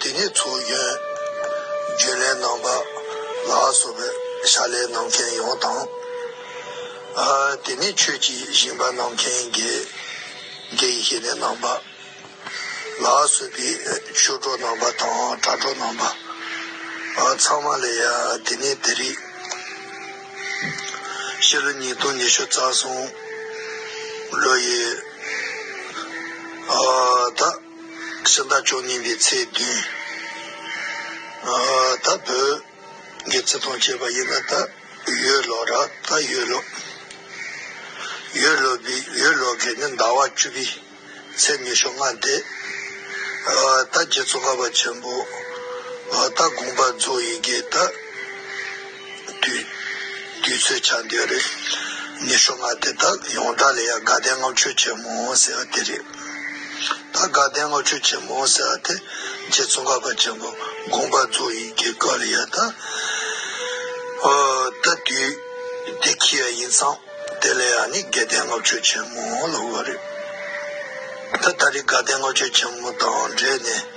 དེ་ནས་ཚོགས་གཞོན་རྒྱུན་ལས་རྣམ་པ་ལ་སོགས་པའི་ཕྱག་ལས་གནང་མཁན་ཡོངས་དང། དེ་ནས་ཆོས་ཀྱི་ཞིང་པ་གནང་མཁན་དགེ་རྒན་ཤེས་ལྡན་རྣམ་པ་ལ་སོགས་པའི་ཆོས་གྲོགས་རྣམ་པ་དང་དྲྭ་གྲོགས་རྣམ་པ་ཚང་མ་ལ་ཡང་དེ་ནས་དེ་རིང་ཕྱི་ལོ་ཉིས་སྟོང་ཉི་ཤུ་རྩ་གསུམ་ལོ་ཡི་ཟླ་ཕྱི་ཟླ་བཅུ་གཉིས་པའི་ཚེས་བདུན་ད་བོད་རྒྱལ་བཙན་ཐང་ཆད་པ་ཡིན་ན་ད་ཡོས་ལོ་ར་ད་ཡོས་ལོ་ཡོས་ལོ་པའི་ཡོས་ལོ་གའི་ནི་ཟླ་བ་བཅུ་པའི་ཚེས་ཉི་ཤོ་ལྔ་སྟེ་ད་རྗེ་བཙོང་ཁ་པ་ཆེན་པོ་ད་དགོངས་པ་རྫོགས་ཡི་གེ་ད། དུས་ཚོད་ཆགས་འདོད་རེད། ནི་ཤོ་ང་དེ་དག་ཡོངས་གྲགས་ལ་ཡང་དགའ་ལྡན་བསྔགས་བརྗོད་ཆེན་མོ་ཟེར་བ་དེ་རེད། ད་དགའ་ལྡན་བསྔགས་བརྗོད་ཆེན་མོ་ཟེར་བ་དེ་རྗེ་བཙུན་ག་པ་ཆེན་པོ་དགོངས་པ་རྫོགས་ཡིན་གྱི་སྐབས་ལ་ཡལ་ད། ད་དུས་དེ་ཁྱི་ཡ་ཡིན་ཙང་དེ་ལ་ཡང་ནི་དགའ་ལྡན་བསྔགས་བརྗོད་ཆེན་མོ་ལ་འོས་པ་རེད། ད་ད་རེས་དགའ་ལྡན་བསྔགས་བརྗོད་ཆེན་མོ་དང་འབྲེལ་ནས།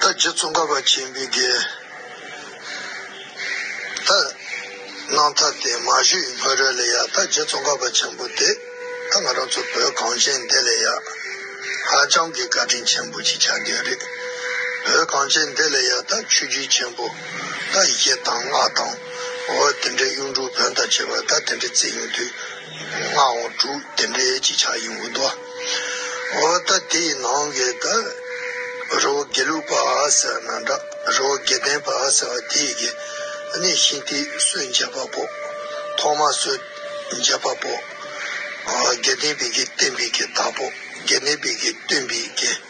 ད་རྗེ་བཙོང་ཁ་བ་ཆེན་པོའི་རྒྱལ། ད་སྣང་ཐ་དད་མ་བཞིའི་ཕ་རོལ་ལས་ཡག་ད་རྗེ་བཙོང་ཁ་བ་ཆེན་པོ་དེ། ད་ང་རང་ཚོ་བོད་གངས་ཅན་འདི་ལས་ཡག། ཧ་ཅང་གི་བཀའ་དྲིན་ཆེན་པོ་ཞིག་ཆགས་རྒྱུ་རེད། བོད་གངས་ཅན་འདི་ལས་ཡག་ད་ཆོས་བརྒྱུད་ཆེན་པོ། ད་གཞས་དང་སྔགས་དང། འོ་དེ་འདྲའི་གཡུང་དྲུང་བོན་དང་བྱེས་པ་ད་དེ་འདྲའི་རྩེད་ཡོང་དུས། སྔགས་འོང་དྲུག་དེ་འདྲའི་ཅིག་ཆགས་ཡིན་འོང་ཏོ། འོ་ད་དེའི་ནང་གི་དགའ་རོགས་དགེ་ལུགས་པ་ཟེར་ན་འདྲ་རོགས་དགེ་ལྡན་པ་ཟེར་བ་དེ་གི་གནས་ཤིང་དེ་སུས་འཇལ་བ་པོ་ཐོག་མ་སུས་འཇལ་བ་པོ་དགེ་ལྡན་བི་གིས་བསྟན་བི་གིས་བདག་པོ་དགེ་ལྡན་བི་གིས་སྟོན་བི་གིས།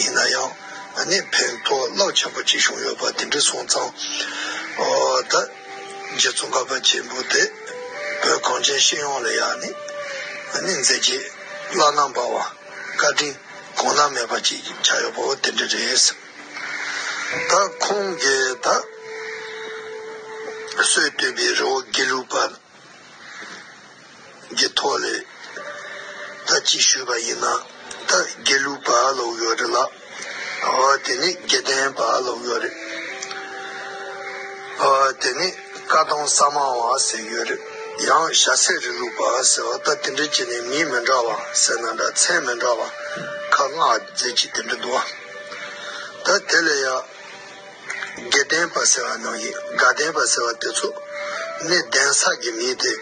ཡིན་ན་ཡང་ང་ནི་ཕན་ཐོགས་རླབས་ཆེན་པོ་གཅིག་བྱུང་ཡོད་པ་དེ་འདྲས་སོང་ཙང། ཨོ་ད། རྗེ་བཙུན་ཀ་པ་ཆེན་པོ་དེ་བོད་གངས་ཅན་ཤེས་ཡོངས་ལ་ཡང་ནི། ང་ནི་མཛད་རྗེས་བླ་ན་འབར་བ། བཀའ་དྲིན་གོང་ན་མེད་པ་ཅིག་ཆགས་ཡོད་པ་བོ་དེ་འདྲས་རེད། ད་ཁོང་གིས་ད། སྲོད་བཏུལ་བའི་རི་བོ་དགེ་ལུགས་པ། ཀྱི་ཐོག་ནས་ད་ཅིག་ཞུས་པ་ཡིན་ན་ད་དགེ་ལུགས་པ་ལོག་ཡོད་རེད་ལགས། འོ་དེ་ནི་དགེ་ལྡན་པ་ལོག་ཡོད་རེད། འོ་དེ་ནི་བཀའ་གདོང་ས་མང་བ་ཟེར་ཡོད་རེད། ཡང་ཞྭ་སེར་རི་ལུགས་པ་ཟེར་བ་ད་དེ་འདྲ་ཅིག་ནས་མི་མི་འདྲ་བ་ཟེར་ན་འདྲ་མཚན་མི་འདྲ་བ་ཁ་སྔགས་རྫས་ཅིག་དེ་འདྲ་འདུག་ཨ། ད་དེ་ལས་ཡག། དགེ་ལྡན་པ་ཟེར་བ་ནང་གི་དགའ་ལྡན་པ་ཟེར་བ་དེ་ཚོ་ནི་གདན་ས་གི་མིང་དེ་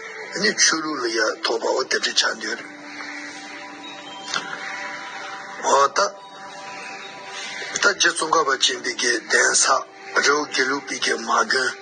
ནི་ཆོས་ལུགས་ལ་ཡ་ཐོག་པའོ་དེ་འདྲ་ཆགས་འདོད་རེད། འོ་ད་ལྟ་རྗེ་ཙོང་ཁ་པ་ཅན་པི་ཀའི་གདན་ས་རེའུ་དགེ་ལུགས་པི་ཀའི་མ་དགོན།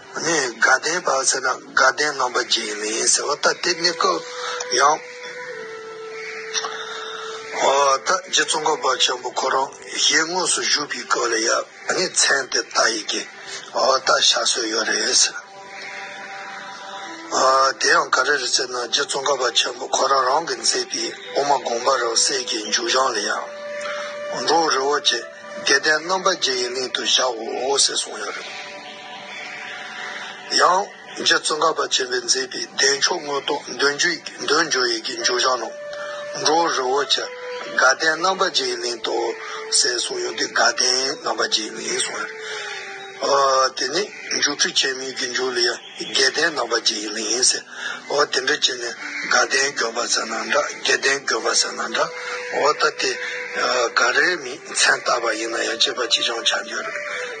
ནས་དགའ་ལྡན་བར་ཟེར་ན་དགའ་ལྡན་རྣམ་པ་གྱི་མིང་ཡིན་ཟེར་བ་ལྟར་དེ་གནས་སྐབས་ཡང། ད་རྗེ་བཙོང་ཁ་བ་ཆེན་པོ་ཁོ་རང་ཞལ་དངོས་སུ་བཞུགས་པའི་སྐབས་ལ་ཡང་ངས་མཚན་དེ་ལྟ་ཡི་གི་ད་ཞག་སོས་ཡོད་རེད་ཟེར། དེ་ཡང་ག་རེ་རེད་ཟེར་ན་རྗེ་བཙོང་ཁ་བ་ཆེན་པོ་ཁོ་རང་རང་གི་མཛད་པའི་དབུ་མ་དགོངས་པ་རང་གསལ་གྱི་མཇུག་བཞག་ལ་ཡང། འགྲོ་བོ་རི་བོ་ཆེ་དགེ་ལྡན་རྣམ་པ་བརྒྱད་ཡི་གླིང་དུ་བཞག་འོ་ཟེར་གསུངས་ཡོད་རེད། ཡང། རྗེ་བཙུན་གར་པ་ཆེན་པོས་མཛད་པའི་བདེ་མཆོག་དངོས་རྟོགས་འདོད་འཇོ་ཡི་གེ་འཇུག་བྱང་ནང། འགྲོ་བ་རི་བོ་ཆེ་དགའ་ལྡན་རྣམ་པ་བརྒྱའི་གླིང་དུ་གསལ་གསུང་ཡོད་དེ་དགའ་ལྡན་རྣམ་པ་བརྒྱའི་གླིང་གསུང་ཡོད། དེ་ནས་འཇུག་ཁྲུས་ཆེན་མོའི་གེ་འཇུག་ལ་ཡང་དགའ་ལྡན་རྣམ་པ་བརྒྱའི་གླིང་ཟེར། དེ་འདྲ་བྱས་ནས་དགའ་ལྡན་འགྱོད་པ་ཟེར་ན་འདྲ་དགེ་ལྡན་འགྱོད་པ་ཟེར་ན་འདྲ་ཨོ་ད་དེ། ག་རེ་མིན་མཚན་བཏགས་པ་ཡིན་ན་ཡང་དཔྱད་པ་ཅི་བྱུང་བྱ་འདོད་རེད།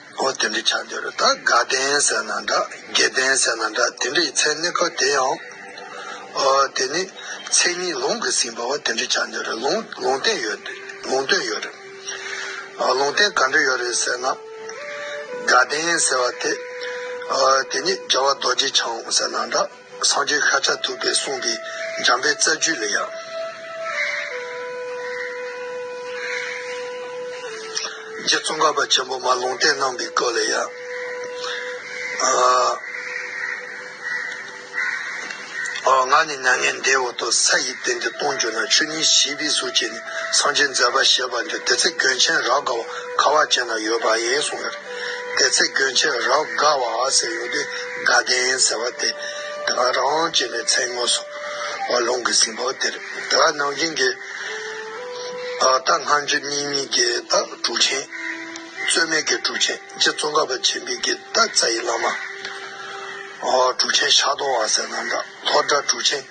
ཨོ་དེ་འདྲའི་ཆ་འདི་རུ་ད་དགའ་ལྡན་ཟེར་ན་འདྲ་དགེ་ལྡན་ཟེར་ན་འདྲ་དེ་འདྲའི་མཚན་གནས་ཁག་དེ་ཡང། ཨོ་དེ་ནི་མཚན་ཉིད་ལུང་གིས་ཟིན་པ་བ་དེ་འདྲའི་ཆ་འདི་རུ་ལུང་ལུང་བསྟན་ཡོད་དེ་ལུང་སྟོན་ཡོད་རེད། ཨོ་ལུང་བསྟན་ག་འདྲ་ཡོད་རེད་ཟེར་ན། དགའ་ལྡན་ཟེར་བ་དེ། ཨོ་དེ་ནི་རྒྱལ་བ་རྡོ་རྗེ་འཆང་ཟེར་ན་འདྲ། སངས་རྒྱས་ཤཱཀྱ་ཐུབ་པས་གསུངས་པའི་འཇམ་དཔལ་རྩ་རྒྱུད་ལ་ཡང། རྗེ་བཙུན་གར་པ་ཆེན་པོ་མ་ལུང་བསྟན་གནང་པའི་སྐབས་ལ་ཡང། ངག་ནི་མྱ་ངན་འདས་འོག་ཏུ་ས་ཡི་སྟེང་དུ་སྟོང་གྱུར་ན་ཆོས་ཉིད་བཞི་པའི་གཟུགས་བྱས་ནས་སངས་རྒྱས་མཛད་པ་ཞེས་པ་འདི་དེ་ཚེ་གྱོན་ཆེན་རབ་དགའ་བ་ཁ་བ་ཅན་ན་ཡོད་པ་ཡིན་གསུངས་ཡོད། དེ་ཚེ་གྱོན་ཕྱིར་རབ་དགའ་བ་ཟེར་ཡོང་དུས་དགའ་ལྡན་ཟེར་བ་དེ་དགའ་རང་ཅེས་པའི་མཚན་ངོ་སོ་བ་ལུང་གི་ཟིན་བོ་དེར་དགའ་ནང་བཞིན་གྱི་རྟགས་སྔ་འགྱུར་གཉིས་མིན་གྱི་རྟགས་དྲུག་ཆེན། རྩོད་མེད་ཀྱི་དྲུག་ཆེན་རྗེ་བཙོན་ཁ་བ་ཆེན་པོས་ཀྱི་རྟགས་རྩ་ཡི་བླ་མ། དྲུག་ཆེན་ཤ་དོང་བ་ཟེར་ན་འདྲ། ཐོག་སྒྲ་སྒྲུག་ཆེན་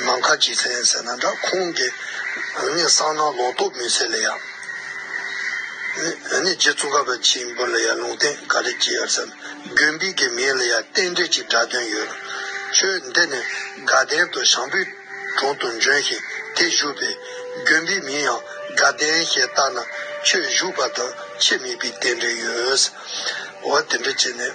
ནམ་མཁའ་གྱི་མཚན་ཟེར་ན་འདྲ་ཁོང་གི་འུ་གཉིས་གསང་ན་ལོག་རྟོག་མི་ཟེར་ལེ་ཡ། འུ་གཉིས་རྗེ་བཙུན་ཁ་བ་ཆེན་པོ་ལ་ཡང་ལུང་བསྟན་ག་རེ་བགྱི་ཡར་བསམ་རྒྱུན་འབིག་གི་མིང་ལ་ཡང་རྟེན་འབྲེལ་གྱི་སྒྲ་དོན་ཡོད། ཁྱོད་འདི་ནི་དགའ་ལྡན་དུ་ཞང་པོའི་དྲུང་དུ་འབྱོན་ཞིང་དེ་བཞུགས་པས་རྒྱུན་འབིག་མིང་ཡང་དགའ་ལྡན་ཞེས་བཏགས་ན་ཁྱོད་བཞུགས་པ་དང་ཁྱིམ་མིག་པའི་རྟེན་འབྲེལ་ཡོད། འོ་དེ་འདྲ་བྱས་ནས།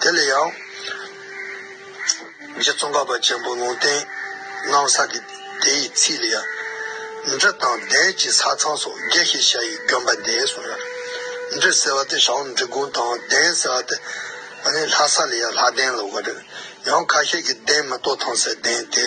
དེ་ལ་ཡང། རྗེ་ཙོང་ཁ་པ་ཆེན་པོ་ལུང་བསྟན་གནང་ས་ཀྱི་དེ་ཡི་ཚིག་ལ་ཡང། འབྲི་དང་བཟླས་ཀྱི་ས་ཚང་སོགས་རྒྱས་ཤིང་ཞྭ་ཡི་གྱོན་པ་འདེད་གསུངས་ཡོད། འབྲི་ཟེར་བ་དེ་ཞང་འབྲི་གུང་དང་གདན་ཟེར་བ་དེ་ལྷ་ས་ལ་ཡང་ལྷ་གདན་ལ་འོ་རེད། ཡང་ཁ་ཤས་ཀྱིས་གདན་མི་གཏོགས་ཐང་སའི་གདན་དེ།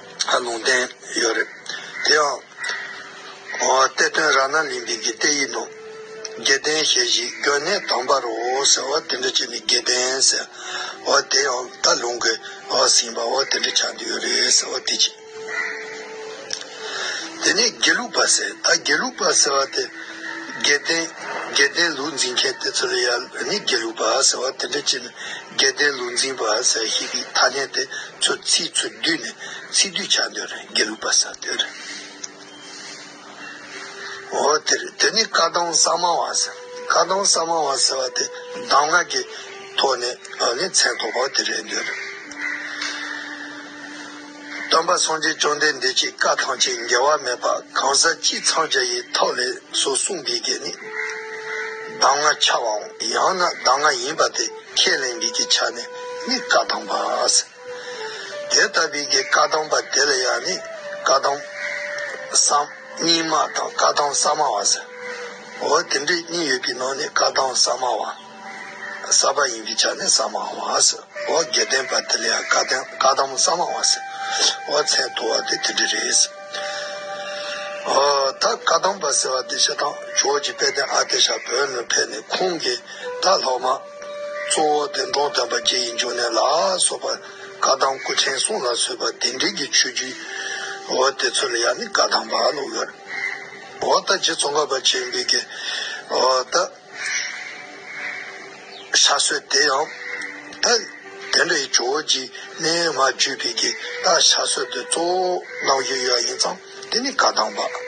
ལ་ལུང་བསྟན་ཡོད་རེད། དེ་ཡང། གཏེར་སྟོན་ར་ན་ལིང་བིང་གི་གཏེར་ཡིག་ནང། རྒྱལ་བསྟན་ཞལ་བཞི་སྒྲོན་གནས་དམ་པར་རོ་ཟེར་བ་དེ་འདྲ་ཅིག་ནི་རྒྱལ་བསྟན་ཟེར། དེ་ཡང་རྟ་ལུང་གི་ཟིན་པ་དེ་འདྲ་ཆགས་འདུག་ཡོད་རེད་ཟེར་བ་དེ་གཅིག། དེ་ནས་དགེ་ལུགས་པ་ཟེར་ད་དགེ་ལུགས་པ་ཟེར་བ་དེ། རྒྱལ་བསྟན་ལུགས་འཛིན་མཁན་དེ་ཚོ་ལ་ཡར་ནི་དགེ་ལུགས་པ་ཟེར་བ་དེ་འདྲ་ཅིག་ནི། རྒྱལ་བསྟན་ལུགས་འཛིན་པ་ཟེར་བཞིན་པའི་ཐ་སྙད་དེ་ཚོ་ཚིག་ཚོད་བསྡུས་ནས་ཚིག་སྡུད་བྱ་འདོད་རེད་དགེ་ལུགས་པ་ཟེར་འདོད་རེད། འོ་དེ་རེད་དེ་ནི་བཀའ་གདམས་གསར་མང་བ་ཟེར། བཀའ་གདམས་གསར་མང་བ་ཟེར་བ་དེ་གདམས་ངག་གི་ཐོག་ནས་མཚན་ཐོགས་པ་དེ་རེད་འདོད་རེད། སྟོན་པ་སངས་རྒྱས་བཅོམ་ལྡན་འདས་ཀྱིས་བཀའ་ཐམས་ཅད་འགལ་བ་མེད་པ་གང་ཟག་སྤྱིའི་འཚང་རྒྱ་ཡི་ཐབས་ལས་སོ་གསུངས་པའི་གེགས་ནི། གདམས་ངག་འཆལ་བའམ་ཡང་ན་གདམས་ངག་ཡིན་པ་དེ་ཁས་ལེན་མིན་གྱི་ཆ་ནས་ནི་བཀའ་གདམས་པ། དེ་ལྟ་བུའི་གེགས་བཀའ་གདམས་པ་དེ་ལ་ཡང་ནི་བཀའ་གདམས་སམ་གཉིས་སྨྲ་དང་བཀའ་གདམས་གསར་སྨྲ་བ་ཟེར། འོ་དེ་འདྲའི་གཉིས་ཡོད་པའི་ནང་ནས་བཀའ་གདམས་གསར་སྨྲ་བ། ས་པ་ཡིན་གྱི་བྱ་ནི་ས་མ་བ་སོ་འོ་དགེ་ལྡན་པ་དེ་ལ་ཡང་བཀའ་གདམས་མོ་ས་མ་བ་སོ་འོ་མཚན་བསྡུ་བ་དེ་དེ་འདྲ་རེད་སོ་འོ་ད་བཀའ་གདམས་པ་ཟེར་བ་དེ་ཤ་ཐང་ཇོ་ཇི་དཔལ་ལྡན་ཨ་ཏེ་ཤ་བོད་ནས་ཕེབས་ནས་ཁོང་གི་ད་ལྷག་མ་གཙོ་བོ་དེ་འབྲོང་བསྟན་པ་རྗེ་ཡི་འབྱུང་གནས་ལ་སོགས་པ་བཀའ་གདམས་སྐུ་ཕྲེང་གསུམ་ལ་བཟོས་པ་དེ་འདྲིས་ཀྱི་ཆོས་བརྒྱུད་འོ་དེ་ཚོ་ལ་ཡང་ནི་བཀའ་གདམས་པ་ལོ་ཡོད་རེད་འོ་ད་རྗེ་ཙོང་ཁ་པ་ཆེན་པོས་ཀྱི་འོ་ད། ས་སྲོད་དེ་ཡང་དག་དེ་འདྲའི་ཇོ་བོ་རྗེས་གནས་མ་བརྒྱུད་པའི་གི་ད་ཞག་སྲོད་དུ་གཙོ་བོ་གནང་རྒྱུ་ཡོད་ཡིན་ཙང་དེ་ནི་བཀའ་གདམས་པ་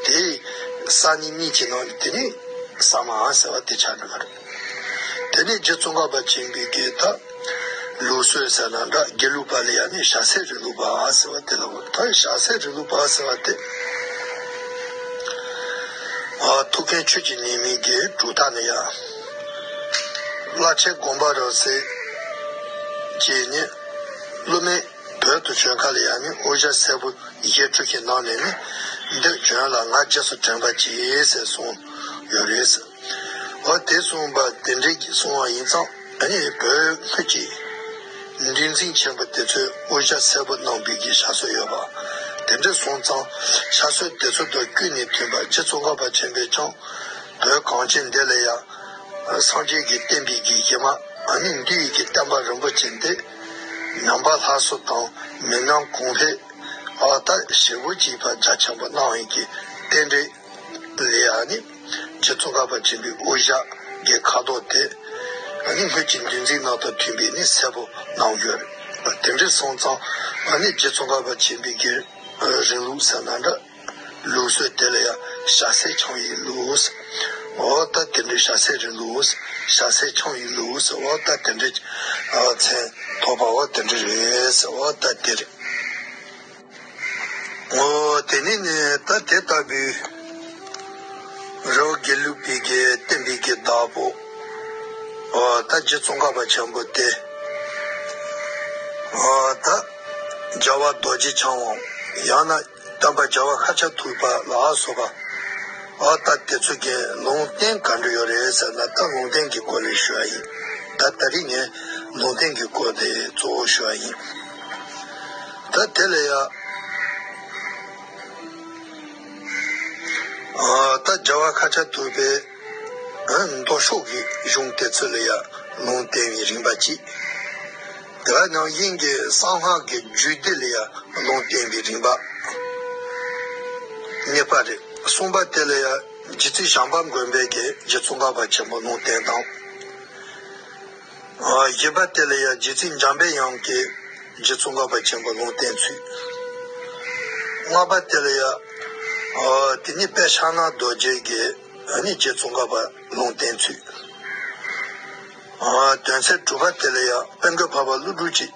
དེ་ས་ནི་གཉིས་ཀྱི་ནང་ནས་དེ་ནི་གསང་མ་ཨང་ཟེར་བ་དེ་ཆགས་འགྲོ་བ་རེད། དེ་ནས་རྗེ་བཙུན་ག་པ་ཆེན་པོས་གི་ད། ལུགས་སྲོལ་ཟེར་ན་འདྲ་རྒྱ་ལུགས་པ་ལ་ཡང་ནི་ཞྭ་སེར་རི་ལུགས་པ་ཟེར་བ་དེ་ལ་འོ་ད་ཞྭ་སེར་རི་ལུགས་པ་ཟེར་བ་དེ། ཐུགས་མཁྱེན་ཆོས་ཀྱི་ཉེས་དམིགས་ཀྱི་གྲུབ་མཐའ་ནི་ཡང་བླ་ཆེན་དགོངས་པ་རབ་གསལ་གྱིས་ནི་སློབ་མའི་བོད་དུ་བྱོན་ཁ་ལ་ཡང་ནི་དབུ་ཞྭ་སེར་པོ་ཡིག་འབྲུ་ཞིག་གནང་ནས་ནི་འདིར་བྱོན་ལ་ང་རྗེས་སུ་དྲན་པ་གྱིས་ཟེར་གསུངས་ཡོད་རེད། འོ་དེ་གསུངས་པ་དེ་འགྲིག་གསུངས་བ་ཡིན་ཙང། ད་ནི་བོད་ཁུལ་གྱི་འགྲན་རྩིས་ཆེན་པོ་དེ་ཚོའི་དབུ་ཞྭ་གསལ་པོ་གནང་འབུལ་གྱི་ཞྭ་སྲོལ་ཡོད་པ་དེ་འདྲ་སོང་ཙང་ཞྭ་སྲོལ་དེ་ཚོ་དང་ཀུན་ནས་མཐུན་པ་རྗེ་ཙོང་ཁ་པ་ཆེན་པོས་ཀྱང་བོད་གངས་ཅན་འདི་ལ་ཡང་སངས་རྒྱས་ཀྱི་བསྟན་པའི་དགེ་རྒན་མ་ནིང་འདུས་ཡིད་ཀྱི་བསྟན་པ་རིན་པོ་ཆེ་འདི་ནང་པ་ལྷ་སོ་དང་མི་སྣ་གོང་འཕེལ་བ་དག་ཞེ་དགུ་གཅིག་པ་རྒྱ་ཆེན་པོ་གནང་ཡིན་གྱི་རྟེན་འབྲེལ། ལེ་ཡཱ་ནི་ཁྱེད་ཚོ་འགག་པར་བྱེད་པའི་དབུ་ཞྭའི་ཁ་དོག་སྟེ། ང་ནི་སྣོད་ཀྱི་འདུལ་འཛིན་ནང་དང་མཐུན་པས་ནི་གསལ་པོ་གནང་ཡོད། དེ་འདྲའི་སོང་ཙང་ང་ནི་ཁྱེད་ཚོ་འགག་པར་བྱེད་པའི་རྒྱུད་རིང་ལུགས་ཟེར་ན་འདྲ། ལུགས་སྲོལ་དེ་ལ་ཡང་ཞྭ་སེར་འཆང་ཡི་ལུགས། འོ་ད་དེ་འདྲའི་ཞྭ་སེར་རི་ལུགས། ཞྭ་སེར་འཆང་ཡི་ལུགས། འོ་ད་དེ་འདྲའི། མཚན་ཐོགས་པའོ་དེ་འདྲ་རེད། འོ་ད་དེ། ངོ་བོ་དེ་ནི་ནི་ད་དེ་ལྟ་བུའི། རེ་བ་དགེ་ལུགས་པའི་དགེ་བསྟན་པའི་དགེ་བདག་པོ། ད་རྗེ་ཙོང་ཁ་པ་བྱམས་པོ་སྟེ། ད་རྒྱལ་བ་རྡོ་རྗེ་འཆང་དབང་ཡང་ན་བསྟན་པ་རྒྱལ་བ་ཤཱ་ཀྱ་ཐུབ་པ་ལ་སོགས་པ། ད་དེ་ཚོ་གིས་ལུང་བསྟན་ག་འདྲ་ཡོད་རེད་ཟེར་ན་ད་ལུང་བསྟན་གྱི་སྐོར་ལས་ཞུ་བ་ཡིན། ད་ད་རིགས་ནས་ལུང་བསྟན་གྱི་སྐོར་དེ་གཙོ་བོ་ཞུ་བ་ཡིན། ད་དེ་ལ་ཡ། ད་རྒྱ་བ་ཁ་ཆ་དུ་བའི་མདོ་ཕྱོགས་ཀྱི་གཞུང་དེ་ཚོ་ལ་ཡ་ལུང་བསྟན་བའི་རིམ་པ་གཅིག། དེ་བས་ན་དབྱིན་ཀྱི་གསང་སྔགས་ཀྱི་རྒྱུད་སྡེ་ལ་ཡ་ལུང་བསྟན་པའི་རིམ་པ་གཉིས་པ་རེད། གསུམ་པ་དེ་ལ་ཡ་རྗེ་བཙུན་ཞང་པ་མགོན་དཔལ་གྱིས་རྗེ་བཙུན་གངས་པ་ཆེན་པོ་ལུང་བསྟན་དང། བཞི་པ་དེ་ལ་ཡང་རྗེ་ཚིག་འཇམ་པའི་དབྱངས་ཀྱིས་རྗེ་ཙོང་ཁ་པ་ཆེན་པོ་ལུང་བསྟན་ཚུལ། ལྔ་པ་དེ་ལ་ཡང་དེ་ནི་དཔལ་ཕྱག་ན་རྡོ་རྗེས་ཀྱི་ནི་རྗེ་ཙོང་ཁ་པ་ལུང་བསྟན་ཚུལ། དོན་ཚན་དྲུག་པ་དེ་ལ་ཡང་དཔལ་མགོན་འཕགས་པ་ཀླུ་སྒྲུབ་ཀྱིས་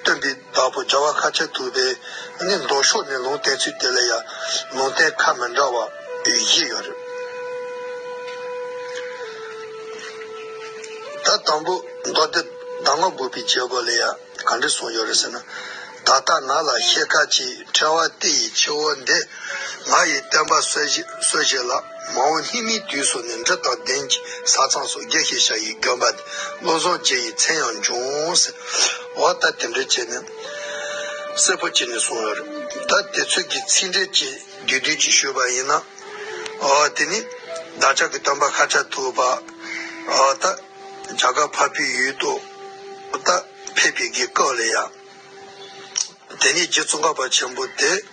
སྟོན་པའི་བདག་པོ་རྒྱལ་བ་ཁ་ཆེ་དུ་བས་ནི་མདོ་ཕྱོགས་ནས་ལུང་བསྟན་ཚུལ་དེ་ལ་ཡང་ལུང་བསྟན་ཁ་མི་འདྲ་བ་བཞི་ཡོད་རེད། ད་དང་པོ་མདོ་སྡེ་གདམས་ངག་དགུ་པའི་བྱེད་སྒོ་ལ་ཡང་ག་འདྲས་གསུངས་ཡོད་རེད་ཟེར་ན། ད་ལྟ་ང་ལ་ཤེལ་ཁ་ཅིག་འཕྲལ་བ་སྟེ་ཡི་ཆུ་བོ་འདི་ང་ཡིས་བསྟན་པ་གསོལ་བཞེས་ལགས། མ་འོངས་ལྷིང་མིའི་དུས་སུ་ནི་འབྲི་དང་གདན་གྱི་ས་གཙང་སོགས་རྒྱས་ཤིང་ཤ་ཡི་གྱོན་པ། བློ་བཟང་རྗེ་ཡི་མཚན་ཡང་འབྱུང། ཟེར་བ་ལྟར་དེ་འདྲའི་ཆེ་ནི་གསལ་པོ་བྱས་ནས་སོང་ཡོད། ད་དེ་ཚོད་ཀྱི་ཚིག་འགྲེལ་གྱི་དགེ་བསྡུས་ཀྱི་ཞུས་པ་ཡིན་ན། དེ་ནི་བདག་ཅག་གི་སྟོན་པ་ཤཱཀྱ་ཐུབ་པ། བྱ་དགའ་ཕ་བུའི་ཡུལ་དུ་ཕེབས་པའི་དགེ་སྐོས་ལ་ཡང། དེ་ནས་རྗེ་ཙོང་ཁ་པ་ཆེན་པོ་དེས།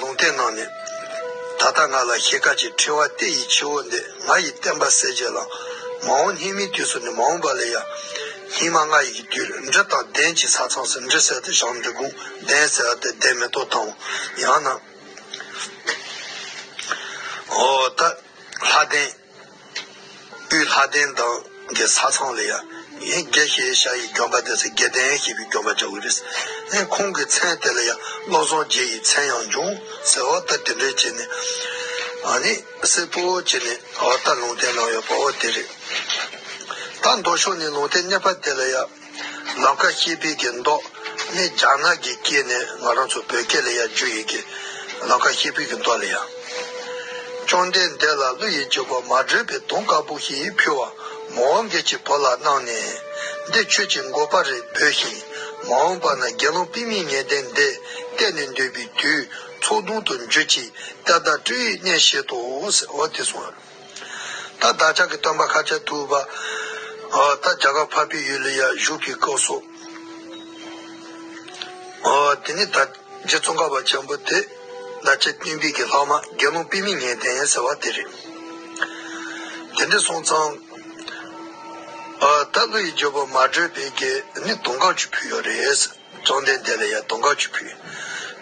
ལུང་བསྟན་གནང་ནས། ད་ལྟ་ང་ལ་ཞེས་བཀའ་ཅི་ཁྲེལ་བ་ལྟས་ཡིད་ཆེ་བོ་འདི་ང་ཡི་བསྟན་པ་གསལ་བྱེད་ལགས། མ་འོངས་སྙིགས་མའི་དུས་སུ་ནི་མ་འོངས་པ་ལས་ཡ། སྙིགས་མ་ལྔ་ཡི་དུས་འདྲི་དང་གདན་གྱི་ས་ཚང་སུ་འདྲི་གསལ་དུ་བཞག་འདི་དགོངས་གདན་གསལ་བ་དེ་གདན་མེ་ཏོག་དང། ཡང་ན། འོ་ད། ལྷ་གདན། དབུས་ལྷ་ལྡན་དང་གི་ས་ཚང་ལ་ཡང་ཡིན་དགེ་ཞེས་བྱ་ཡི་གྱོན་པ་དེ་ཚོ་དགེ་ལྡན་ཞེས་པའི་གྱོན་པ་བྱ་བུ་རེད། ཨེ་ཁོང་གི་མཚན་དེ་ལ་ཡང་བློ་བཟང་རྗེ་ཡི་མཚན་ཡང་འབྱུང་ཟེར་བ་ལྟར་དེ་འདྲས་བྱས་ནས་ནི་སེར་པོ་བྱས་ནས་ད་ལྟ་ལུང་བསྟན་གནང་ཡོད་པའོ་དེ་རེད། ད་མདོ་ཕྱོགས་ནས་ལུང་བསྟན་གནས་པ་དེ་ལ་ཡང། ལམ་ཁ་ཤེས་དཔལ་གྱི་མདོག་ནི་རྒྱ་ནག་གི་སྐད་ནས་ང་རང་ཚོ་བོད་སྐད་ལ་ཡང་བསྒྱུར་ཡོད་ཀི། ལམ་ཁ་ཤེས་དཔལ་གྱི་མདོག་ལ་ཡང། བཅོམ་ལྡན་འདས་ལ་ཀླུ་ཡི་རྗེ་གོ་མ་བགྲོད་པའི་དུང་དཀར་པོ་ཞིག་ཕུལ་བ། མ་འོངས་སྐད་ཅིག་བོར་ལ་གནང་ནས། འདི་ཁྱོད་ཀྱི་མགོ་པ་རེད་བོས་ཤིང། མ་འོངས་པ་ན་དགེ་སློང་པི་མིའི་ངན་ལྡན་འདས་གཏད་ནས་འདོད་པའི་དུས་ཚོགས་དུང་དུ་འགྱུར་ཅིག་ཏདྱ་སྤྲུལ་ཡིག་གནས་བཤད་དོ། འོ་དེ་སོང། ད་བདག་ཅག་གི་སྟོན་པ་ཤཱ་ཀྱ་ཐུབ་པ། ད་རྒྱ་གར་ཕ་བི་ཡུལ་ལ་ཡར་བཞུགས་ཀྱི་སྐབས་སོ། དེ་ནས་ད་རྗེ་ཙོང་ཁ་བ་ཆེན་པོ་དེ་ད་ཆ་ཏིང་འབིག་གི་ལྷག་མ་རྒན་མོ་པི་མི་ངན་ལྡན་ཟེར་བ་དེ་རེད། དེ་འདྲ་སོང་ཙང། ད་ཀླུ་ཡི་རྗེ་བོ་མ་བགྲོས་པའི་རྒྱལ་ནི་དུང་དཀར་ཆུ་ཕུལ་ཡོད་རེད། བཅོམ་ལྡན་འདས་ལ་ཡང་དུང་དཀར་ཆུ་ཕུལ།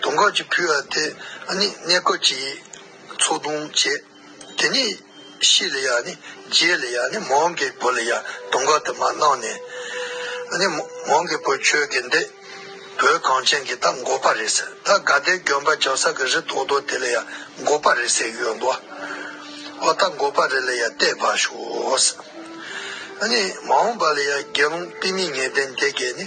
དུང་དཀར་ཆུ་ཕུལ་བ་དེ་ནི་གནས་སྐབས་ཀྱི་ཚོགས་དུང་བྱས། དེ་ནས་ཤི་ལ་ཡ་ནི་རྗེས་ལ་ཡ་ནི་མོང་གི་བུ་ལ་ཡ་དུང་ག་དུ་མ་གནང་ནས། ཨ་ནི་མོང་གི་བུ་ཁྱོད་ཀྱིས་འདི་བོད་གངས་ཅན་གྱི་ད་མགོ་པ་རེད་ཟེར་ད་དགའ་ཟླའི་རྒྱོན་པ་འཇག་ས་གི་རི་དོག་དོག་དེ་ལ་ཡ་མགོ་པ་རེད་ཟེར་ཡོད་འདུག་ཨོ་ད་མགོ་པ་རེད་ལ་ཡ་བལྟས་བ་ཞོག་ཟེར། ཨ་ནི་མོང་བ་ལ་ཡ་དགེ་སློང་པི་མི་ངེ་ལྡན་དེ་གས་ནི་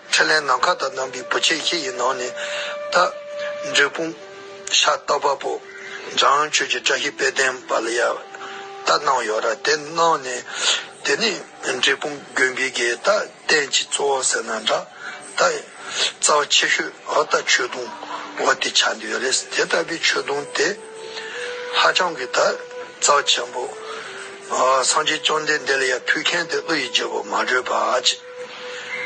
ཁྲི་ལན་ནམ་མཁའ་དང་བསྣམས་པའི་བུ་ཆེ་ཁྱི་ཡི་ནང་ནས་བལྟ། འབྲས་སྤུངས། ཤ་སྟག་དཔའ་བོ། འཇམ་དབྱངས་ཆོས་ཀྱི་བཀྲ་ཤིས་དཔལ་ལྡན་པ་ལ་ཡ། བལྟ་གནང་ཡོད་ར་དེ་གནང་ནས། དེ་ནས་འབྲས་སྤུངས་དགོན་པའི་དགེ་བལྟ་བསྟན་གྱི་གཙོ་བོ་ཟེར་ན་འདྲ། བལྟ། རྩ་བ་ཆེ་ཤོས་བལྟ་ཆོས་དུང་བ་དེ་ཆགས་འདི་ཡོད་རེད་དེ་ལྟ་བུའི་ཆོས་དུང་དེ། ཧ་ཅང་གི་བལྟ། རྩ་བ་ཆེན་པོ། སངས་རྒྱས་བཅོམ་ལྡན་འདས་ལ་ཡ་ཕུལ་མཁན་དེ་ཀླུ་ཡི་རྒྱལ་པོ་མ་གྲོས་པ།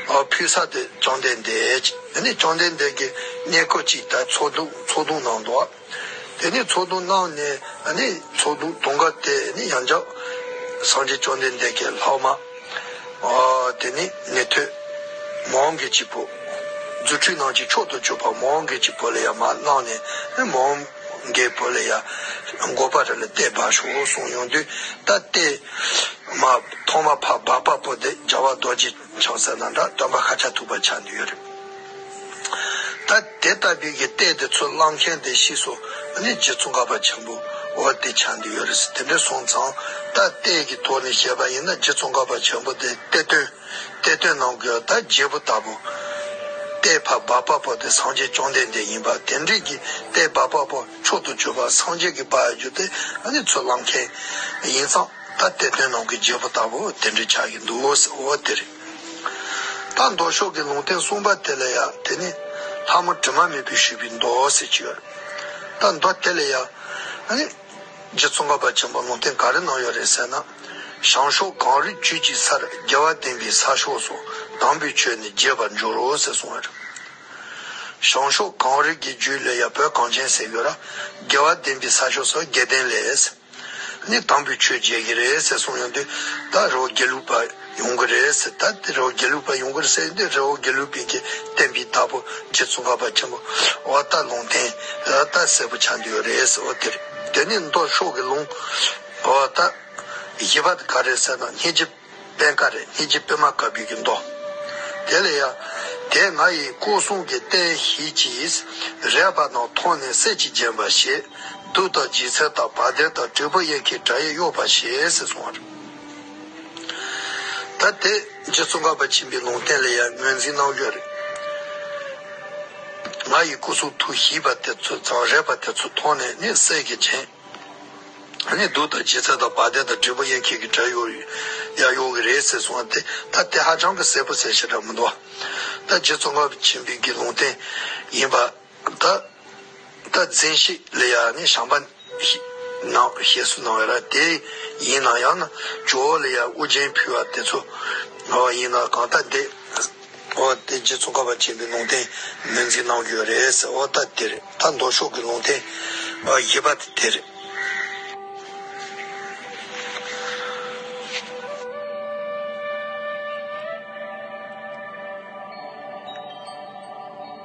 ཕུལ་ས་དེ་བཅོམ་ལྡན་འདས་ཀྱིས་འདི་ནི་བཅོམ་ལྡན་འདས་ཀྱི་གནས་གོས་ཅིག་དག་ཚོགས་དུང་ཚོགས་དུང་གནང་དོ། དེ་ནས་ཚོགས་དུང་གནང་ནས་ཚོགས་དུང་དུང་དཀར་དེ་ནི་ཡང་བཅག། སངས་རྒྱས་བཅོམ་ལྡན་འདས་ཀྱིས་ལྷག་མ། དེ་ནི་ནི་ཐོས། མ་འོངས་དགེ་བྱེད་པོ། རྫུ་འཕྲུལ་སྣང་ཅིག་མཆོག་ཏུ་སྤྱོད་པ་མ་འོངས་དགེ་བྱེད་པོ་ལ་ཡང་མ་གནང་ནས་མ་འོངས། རྒྱལ་པོ་ལ་ཡང་མགོ་པ་རི་ལ་རྟའི་སྦ་ཞོག་ལོ་གསུངས་ཡོང་དུས་ད་ལྟའི་མ་ཐོག་མ་ཕ་སྦ་པ་པོ་འདི་རྒྱལ་བ་རྡོ་རྗེ་འཆང་ཟེར་ན་འདྲ་སྟོན་པ་ཧ་ཅང་ཐུག་པ་ཆགས་འདུག་ཡོད་རེད་ད་དེ་ལྟ་བུའི་གི་རྟའི་དེ་ཚོ་བླངས་མཁན་དེ་ཤི་སོ་ནི་རྗེ་བཙུན་ག་པ་ཆེན་པོ་འོ་དེ་ཆགས་འདུག་ཡོད་རེད་དེ་འདྲ་སོང་ཙང་ད་རྟའི་གི་ཐོག་ནས་བཤད་པ་ཡིན་ན་རྗེ་བཙུན་ག་པ་ཆེན་པོ་དེ་རྟའི་དོན། གཏེར་སྟོན་ནང་དགོས་བདག་རྒྱལ་པོ་ལྟ་བུ། ལྟེ་བར་སྦ་པ་པོ་དེ་སངས་རྒྱས་བཅོམ་ལྡན་འདས་ཡིན་པ་དེ་འབྲེལ་གྱི་ལྟེ་སྦ་པ་པོ་མཆོག་ཏུ་གྱུར་པ་སངས་རྒྱས་ཀྱི་སྦ་ཡ་རྒྱུ་དེ་ནི་ཚུར་བླངས་མཁན་ཡིན་ཙང་ད་གཏེར་སྟོན་ནང་གི་རྒྱལ་པོ་ལྟ་བུ་དེ་འདྲི་ཆགས་ཀྱི་འདུག་འོ་དེ་རེད། ད་མདོ་ཕྱོགས་ཀྱི་ལུང་བསྟན་གསུངས་པ་དེ་ལ་ཡང་དེ་ནི་ལྷ་མོ་དྲི་མ་མེད་པོས་ཞུས་པའི་མདོ་ཟེར་གྱི་ཡོད་རེད། ད་མདོ་དེ་ལ་ཡང། རྗེ་བཙུན་ག་པ་ཆེན་པོ་ལུང་བསྟན་ག་རེ་གནང་ཡོད་རེད་ཟེར་ན། བྱང་ཕྱོགས་གངས་རི་བཅུད་ཀྱི་སར་རྒྱལ་བ་བསྟན་པའི་ས་ཕྱོགས་སུ་དམ་པའི་ཆོས་ནི་རྒྱས་པར་འགྱུར་རོ་ཟེར་གསུང་བ་རེད། བྱང་ཕྱོགས་གངས་རི་གི་རྒྱུད་ལས་ཡ་བོད་གངས་ཅན་ཟེར་ཡོད་ར། རྒྱལ་བ་བསྟན་པའི་ས་ཕྱོགས་སུ་རྒྱལ་བསྟན་ལས། ནི་དམ་པའི་ཆོས་རྒྱས་ཀྱི་རེད་ཟེར་གསུང་ཡོད་འདུག་ད་རེ་བ་དགེ་ལུགས་པ། ཡོང་གི་རེད་ཟེར་ད་དེ་རའོ་རྒྱལ་ལུགས་པ་ཡོང་གི་རེད་ཟེར་འདི་རའོ་རྒྱལ་ལུགས་པའི་གི་བསྟན་པའི་བདག་པོ་རྗེ་བཙུན་ཁ་པ་ཆེན་པོ་བ་རྟ་ལུང་བསྟན་ལ་རྟ་གསལ་པོ་ཆགས་འདི་ཡོད་རེད་ཟེར་བ་དེར་དེ་ནས་མདོ་ཕྱོགས་གི་ལུང་བ་རྟ་བཞི་པ་ག་རེད་ཟེར་ན་སྙེ་རྗེ་དཔལ་ཀ་རེད་སྙེ་རྗེ་དཔལ་མ་ག་བུད་གི་མདོ་དེ་ལ་ཡ་དེ་ང་ཡི་སྐུ་གསུང་གི་རྟེན་གཞི་ཅིས་རེད་པ་ནང་མཐོང་ནས་གསེར་གྱི་རྒྱན་པ་ཞེས་སྡུག་དང་སྦྱིད་ཚལ་དང་བ་དན་དང་དྲིལ་བུ་གཡས་འཁྱིལ་དགྲ་ཡི་གཡོག་པ་ཞེས་གསུངས་བར། ད་དེ་རྗེས་ཙོང་ཁ་པ་ཆེན་པོས་ལུང་བསྟན་ལ་ཡང་ངོས་འཛིན་གནང་རྒྱུ་རེད། ང་ཡི་སྐུ་གསུང་ཐུགས་ཞེས་པ་དེ་ཚོས་ཙང་རས་པ་དེ་ཚོ་མཐོང་ནས་ནི་སད་ཀྱི་བྱེད། ནི་སྡུག་དང་ལྗིད་ཚད་དང་བ་དན་དང་དྲིལ་བུ་གཡས་འཁྱིལ་གྱི་སྒྲ་ཡོག་ཡག་ཡོང་གི་རེད་ཟེར་སོང་སྟེ་ད་དེ་ཧ་ཅང་གི་གསལ་པོ་གསལ་བཤད་གྲགས་མི་འདུག་ད་རྗེས་ཙོང་ཁ་པ་ཆེན་པོའི་དགེ་སློང་བསྟན་ཡིན་པ། ད་ལྟ་རྫས་ཤིག་ལས་ཡ་ནི་བྱང་པ་ནའོ་ཞེས་སུ་སྣང་བས་ན་དེ་ཡིན་ན་ཡང་ན་ཇོ་བོ་ལས་ཡ་དབུ་རྒྱན་ཕུལ་བ་དེ་ཚོ་བ་ཡིན་ན་གང་ལྟ་དེ་བ་དེ་རྗེ་བཙུན་ཀ་བ་ཆེན་པོའི་ལུང་བསྟན་ནོན་འཛིན་གནང་རྒྱུ་རེད་ཟེར་བ་ལྟ་དེ་རེད་ད་མདོ་ཕྱོགས་ཀྱི་ལུང་བསྟན་བཞི་པ་དེ་དེ་རེད།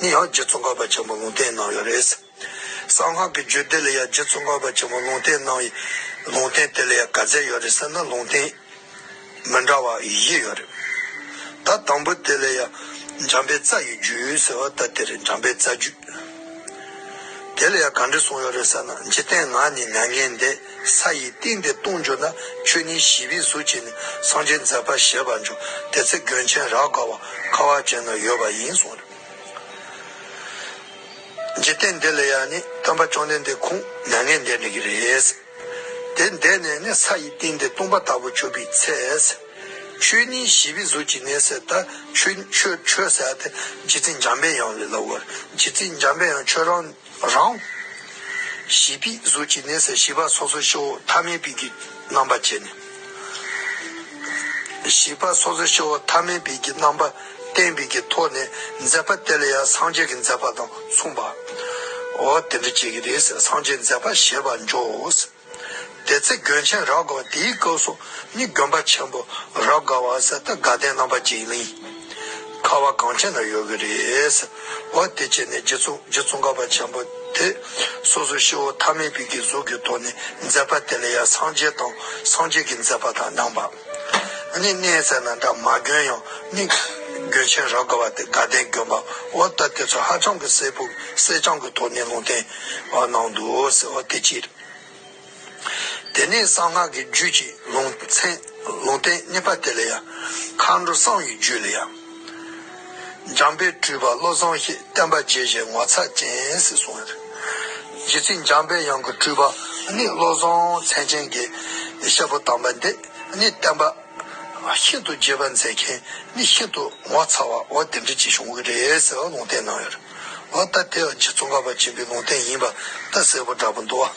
ནི་ཡང་རྗེ་ཙོང་ཁ་པ་ཆེན་པོ་ལུང་བསྟན་གནང་ཡོད་རེད། གསང་སྔགས་ཀྱི་རྒྱུད་སྡེ་ལ་ཡང་རྗེ་ཙོང་ཁ་པ་ཆེན་པོ་ལུང་བསྟན་གནང་ཡི། ལུང་བསྟན་དེ་ལ་ཡང་ག་ཚད་ཡོད་རེད་ཟེར་ན་ལུང་བསྟན་མི་འདྲ་བ་བཞི་ཡོད་རེད། ད་དང་པོ་དེ་ལ་ཡང་འཇམ་པའི་རྩ་ཡི་རྒྱུད་ཟེར་བ་ད་དེ་རེད་འཇམ་པའི་རྩ་རྒྱུད། དེ་ལ་ཡང་ག་འདྲས་གསུངས་ཡོད་རེད་ཟེར་ན་འཇིག་རྟེན་ང་ནི་མྱ་ངན་འདས། ས་ཡི་སྟེང་དེ་ལྟུང་འགྱུར་ན་ཆོས་ཉིད་བཞི་པའི་གཟུགས་ཀྱིས་ནི་སངས་རྒྱས་མཛད་པར་བཞེད་པར་འགྱུར་དེ་ཚེ་དགོན་ཆེན་རགས་དགའ་བ་ཁ་བ་ཅན་ན་ཡོད་པ་ཡིན་གསུངས། འཇིག་རྟེན་འདི་ལ་ཡང་ནི་སྟོན་པ་བཅོམ་ལྡན་འདས་ཁུངས་ནས་ངས་འདས་འགྲོ་གི་རེད། དེ་འདས་ནས་ནི་ས་ཡི་སྟེང་དེ་ལྟུང་བ་ལྟ་བུ་གྱུར་པའི་ཚེ། ཆོས་ཉིད་བཞི་པའི་གཟུགས་ཀྱིས་ནི་ཟད་ད་ཆོས་ཆོས་ཟད་དེ་རྗེ་བཙུན་འཇམ་པའི་དབྱངས་ལས་ལ་བོར་རྗེ་བཙུན་འཇམ་པའི་དབྱངས་ཆོས་རང། རང། ཞི་བའི་གཟུགས་ཀྱི་གནས་སའི་ཞི་བ་སོ་སོའི་ཤེ་བོ་ཐ་མལ་པའི་གི་རྣམ་པ་བྱས་ནས། ཞི་བ་སོ་སོའི་ཤེ་བོ་ཐ་མལ་པའི་གི་རྣམ་པ་བསྟན་པའི་གི་ཐོག་ནས་མཛད་པ་དེ་ལ་ཡང་སངས་རྒྱས་ཀྱི་མཛད་པ་དང་མཚུངས་པའོ། དེ་འདྲ་བྱེད་ཀྱི་རེས་སངས་རྒྱས་མཛད་པ་ཞེས་པ་འཇོག། དེ་ཚེ་དགོན་ཆེན་རག་དགའ་བ་དེའི་སྐབས་སུ་ནི་དགོན་པ་ཆེན་པོ་རག་དགའ་བ་ཟེར་ཏེ་དགའ་ལྡན་རྣམ་པ་འཇིགས་གླིང། ཁ་བ་གངས་ཅན་ན་ཡོད་ཀྱི་རེད། བ་དེ་བྱས་ནས་རྗེ་བཙུན་དགའ་བ་ཆེན་པོ་དེ་སོ་སོའི་ཤི་བོ་ཐ་མལ་པའི་གི་གཟུགས་ཀྱི་ཐོག་ནས་མཛད་པ་དེ་ལ་ཡང་སངས་རྒྱས་དང་སངས་རྒྱས་ཀྱི་མཛད་པ་དང་ནང་པ། གནས་ཚད་ན་འདྲ་མ་གྱོན་ཡང་མིག། གྱོན་ཆེན་རག་དགོས་པ་དེ་དགའ་ལྡན་གྱོན་པ་འོ་ལྟ་དེ་ཚོ་ཧ་ཅང་གི་སེར་ཕུག་སེར་ཆང་གི་ཐོག་ནས་ལུང་བསྟན་བ་གནང་འདུག་ཟེར་བ་དེ་ཅི་རེད། དེ་ནས་གསང་སྔགས་ཀྱི་རྒྱུད་ཀྱི་ལུང་ཚན་ལུང་བསྟན་གནས་པ་དེ་ལ་ཡང། མཁའ་འགྲོ་གསང་བའི་རྒྱུད་ལ་ཡང། འཇམ་དཔལ་སྤྲུལ་པ་བློ་བཟང་ཞེས་བསྟན་པ་རྗེས་བཞེས་ངོ་མཚར་ཅན་ཟིག་སོང་ཡོད། རྗེ་ཚིག་འཇམ་དཔལ་དབྱངས་ཀྱི་སྤྲུལ་པ་ནི་བློ་བཟང་མཚན་ཅན་གྱི་གཤེད་པོ་དམ་པ་འདི་ནི་བསྟན་པ་ཤིན་ཏུ་རྒྱས་པ་མཛད་མཁན་ནི་ཤིན་ཏུ་ངོ་མཚར་བ་བ་དེ་འདྲི་གཅིག་བྱུང་གི་རེད་ཟེར་བ་ལུང་བསྟན་གནང་ཡོད། ལ་ད་དེ་རྗེ་ཙོང་ཁ་པ་ཆེན་པོའི་ལུང་བསྟན་ཡིན་པ་ད་གསལ་པོ་འདྲ་པོ་འདུག་བ།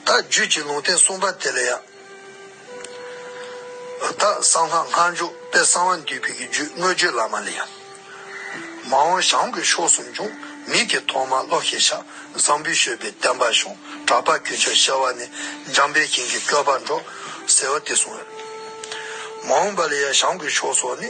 ད་རྒྱུད་ཀྱི་ལུང་བསྟན་གསུངས་པ་དེ་ལ་ཡང། ཨུ་ཐག་གསང་སྔགས་སྔགས་མཇུག་དཔལ་གསང་བ་འདུས་པའི་རྒྱུད་དངོས་བརྗོད་བླ་མ་ལས། མ་འོངས་ཞང་ཀུན་ཤོག་ཟུང་འབྱུང་མིག་གི་ཐོག་མ་བློ་ཤེས་ཤ་ཟང་བུ་བཤོས་པའི་བསྟན་པ་ཤོང་གྲགས་པ་ཀུན་ཆོས་བཤད་བ་ནི་འཇམ་པའི་ཞིང་གི་སྐྱོ་བ་འགྲོ་ཟེར་བ་དེ་གསུངས་ཡོད། མ་འོངས་པ་ལ་ཡང་ཞང་ཀུན་ཤོག་སོགས་ནི།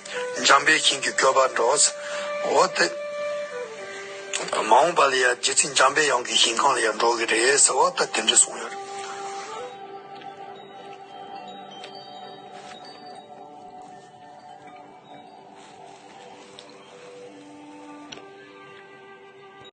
འཇམ་དཔལ་གཤེན་གྱི་སྐྱོབ་པར་འགྲོ། འོ་སྟེ། མ་འོངས་པ་ལ་ཡང་རྗེ་བཙུན་འཇམ་དཔལ་དབྱངས་ཀྱི་ཞིང་ཁམས་ལ་ཡང་འགྲོ་གི་རེད་ཟེར་བ་ལྟར་དེ་འདྲ་གསུངས་ཡོད།